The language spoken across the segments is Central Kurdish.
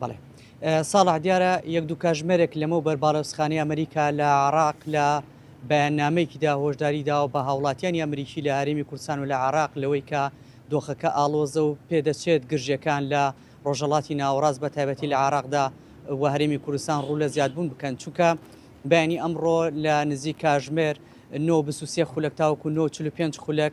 بەڵێ ساڵح دیارە یەک دوو کاژمێرێک لەمەو بەر باڵەوسخانی ئەمریکا لە عراق لە بەیاننامەیەکیدا هۆشداری داوە بە هاوڵاتیانی ئەمریکی لە هەرێمی کوردستان و لە عراق لەوەی کە دۆخەکە ئاڵۆزە و پێدەچێت گرژەکان لە ڕۆژەڵاتی ناوەڕاست بە تایبەتی لە عراقدا و هەرێمی کوردستان ڕوو لە زیادبوون بکەن چونکە بەینی ئەمڕۆ لە نزیک کاژمێر 9 خولەک تاوەکو 9 45 خولەک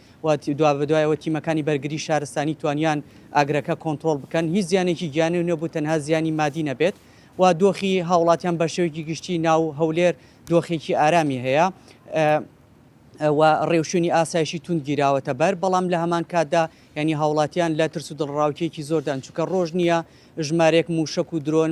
و دوابەدوایەوە تیمەکانی بەرگری شارستانی توانیان ئاگرەکە کۆنترۆڵ بکەن هیچ زیانێکی گیانی نەبوو تەنها زیانی مادی نەبێت و دۆخی هاوڵاتیان بەشێوەیەکی گشتی ناو هەولێر دۆخێکی ئارامی هەیە و ڕێوشوێنی ئاسایشی توند گیراوەتە بەر بەڵام لە هەمان کاتدا ینی هاوڵاتیان لە ترس و دڵڕاوکێکی زۆردان چووکە ڕۆژ نییە ژمارێک موشک و درۆن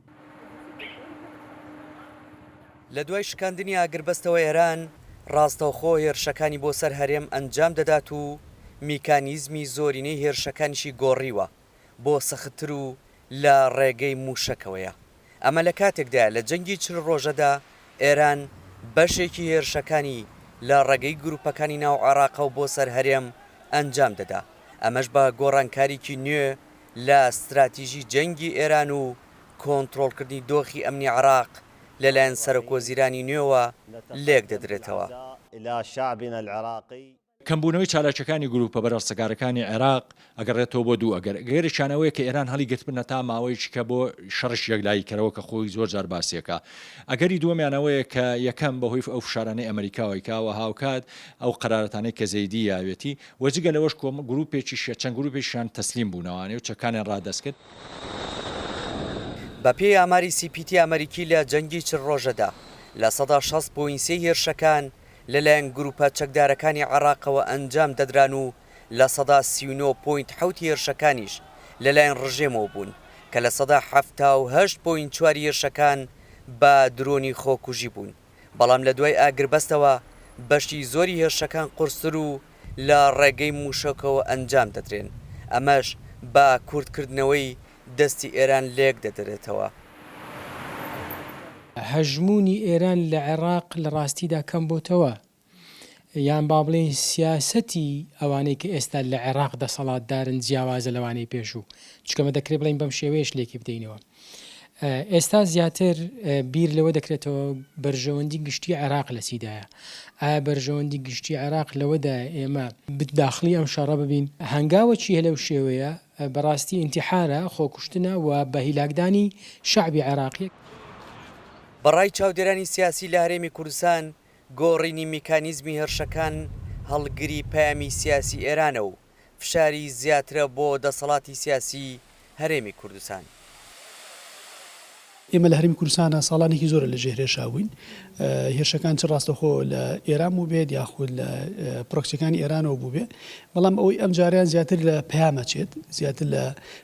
لە دوای شکاندنی ئاگربەستەوە ئێران ڕاستەوخۆ هێرشەکانی بۆ سەر هەرێم ئەنجام دەدات و میکانیزمی زۆرینەی هێرشەکانیشی گۆڕیوە بۆ سەختتر و لە ڕێگەی مووشەکەوەیە ئەمە لە کاتێکدایە لە جەنگی چل ڕۆژەدا ئێران بەشێکی هێرشەکانی لە ڕێگەی گروپەکانی ناو عێراقەوە بۆ سەر هەرێم ئەنجام دەدا ئەمەش بە گۆڕانکاریکی نوێ لە ستراتیژی جەنگی ئێران و کۆنترۆڵکردنی دۆخی ئەمنی عێراق لەلایەن سەرەکوەزیرانی نوێوە لێکدەدرێتەوە. کەمبوونەوەی چالاکییەکانی گرووپە بەرەڵسەکارەکانی عێراق ئەگەڕێتەوە بۆ دوو ئەگەر، ئەگەرێکیان ئەوەیە کە ئێران هەڵیگرتبنە تا ماوەیەکی کە بۆ شەڕیشی یەکلاییکەرەوە کە خۆی زۆر جار باسییەکا. ئەگەری دووەمیان ئەوەیە کە یەکەم بەهۆی ئەو فشارانەی ئەمەریکاوەی کە وە هاوکات ئەو قەرارەتانەی کە زەیدی یاوێتی و جگە لەوەش کۆمە گروپێکیشیان چەند گروپێکیشیان تەسلیم بوونەوانێ و چەکانیان ڕادەست کرد. بە پێی ئاماری سی پی تی ئەمەریکی لە جەنگی چل ڕۆژەدا لە سەدا شەست پۆینت سێ هێرشەکان لە لایەن گروپە چەکدارەکانی عێڕاقەوە ئەنجام دەدران و لە سەدا سی و نۆ پۆینت حەوت هێرشەکانیش لە لایەن ڕژێمەوە بوون کە لە سەدا حەفتا و هەشت پۆینت چوار هێرشەکان بە درۆنی خۆکوژی بوون. بەڵام لە دوای ئاگربەستەوە بەشی زۆری هێرشەکان قورستر و لە ڕێگەی مووشەکەوە ئەنجام دەدرێن، ئەمەش بە کورتکردنەوەی دەستی ئێران لێکدەدرێتەوە. هەژموونی ئێران لە عێراق لە ڕاستیدا کەمبۆتەوە، یان با بڵێین سیاسەتی ئەوانەی کە ئێستا لە عێراق دەسەڵاتدارن جیاوازە لەوانەی پێشوو، چونکە مە دەکرێ بڵێین بەم شێوەیەش لێکی بدەینەوە. ئێستا زیاتر بیر لەوە دەکرێتەوە بەرژەوەندی گشتی عێراق لە چیدایە؟ ئایا بەرژەوەندی گشتی عێراق لەوەدایە ئێمە داخڵی ئەم شەڕە ببین؟ هەنگاوە چییە لەو شێوەیە؟ بەڕاستی ئینتیحارە، خۆکوشتنە و بە هیلاکدانی شەعبی عێراقییە. بەڕای چاودێرانی سیاسی لە هەرێمی کوردستان، گۆڕینی میکانیزمی هێرشەکان هەڵگری پەیامی سیاسی ئێرانە و فشاری زیاترە بۆ دەسەڵاتی سیاسی هەرێمی کوردستان. ئێمە لە هەرێمی کوردستانا ساڵانێکی زۆرە لە ژێر هێرشا بووین. هێرشەکان چ ڕاستەوخۆ لە ئێران بووبێت یاخود لە پرۆکسیەکانی ئێرانەوە بووبێت، بەڵام ئەوەی ئەمجارەیان زیاتر لە پەیامە چێت، زیاتر لە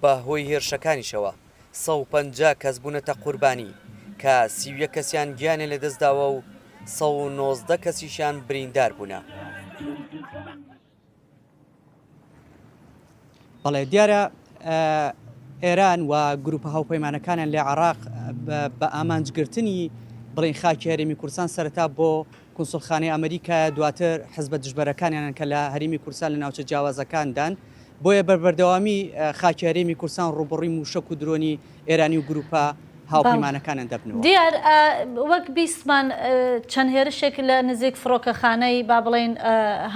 بە هۆی هێرشەکانیشەوە سەد و پەنجا کەس بوونەتە قوربانی کە سی و یەک کەسیان گیانیان لەدەستداوە و سەد و نۆزدە کەسیشیان بریندار بوونە. بەڵێ دیارە ئێران و گروپە هاوپەیمانەکانیان لە عێراق بە ئامانجگرتنی بڵین خاکی هەرێمی کوردستان سەرەتا بۆ کونسوڵخانەی ئەمریکایە، دواتر حزبە دژبەرەکانیانن کە لە هەرێمی کوردستان لە ناوچە جیاوازەکاندان، بۆیە بە بەردەوامی خاکی هەرێمی کوردستان ڕووبەڕووی مووشەک و درۆنی ئێرانی و گرووپە هاوپەیمانەکانن دەبنەوە. دیار، وەک بیستمان چەند هێرشێک لە نزیک فڕۆکەخانەی با بڵێین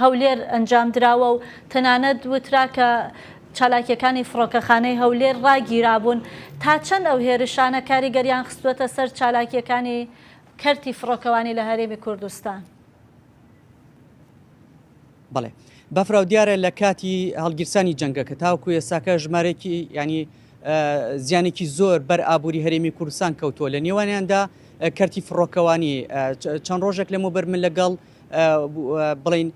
هەولێر ئەنجام دراوە و تەنانەت وترا کە چالاکییەکانی فڕۆکەخانەی هەولێر ڕاگیرابوون، تا چەند ئەو هێرشانە کاریگەریان خستووەتە سەر چالاکییەکانی کەرتی فڕۆکەوانی لە هەرێمی کوردستان. بەڵێ بەفراو دیارە لە کاتی هەڵگیرسانی جەنگەکە تاوکو ئێساکە ژمارێکی ینی زیانێکی زۆر بەر ئابووری هەرێمی کوردستان کەوتووە لە نێوانیاندا کەرتی فڕۆکەوانی چەند ڕۆژێک لەمە بەر من لەگەڵ بڵین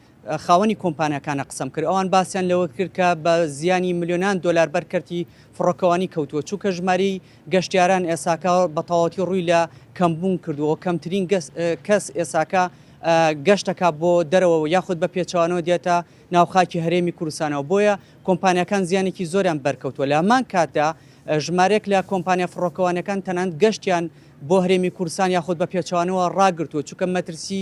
خاوەنی کۆمپانیاکانە قسەم کرد، ئەوان باسیان لەوە کرد کە بە زیانی ملیۆنان دۆلار بەر کەرتی فڕۆکەوانی کەوتووە، چونکە ژمارەی گەشتیاران ئێساکە بە تەواوەتی ڕووی لە کەمبوون کردووە و کەمترین کەس ئێساکە گەشت دەکات بۆ دەرەوە یاخود بە پێچەوانەوە دێتە ناو خاکی هەرێمی کوردستانەوە، بۆیە کۆمپانیاکان زیانێکی زۆریان بەر کەوتووە، لە هەمان کاتدا ژمارێک لە کۆمپانیا فڕۆکەوانیەکان تەنانەت گەشتیان بۆ هەرێمی کوردستان یاخود بە پێچەوانەوە ڕاگرتووە، چونکە مەترسی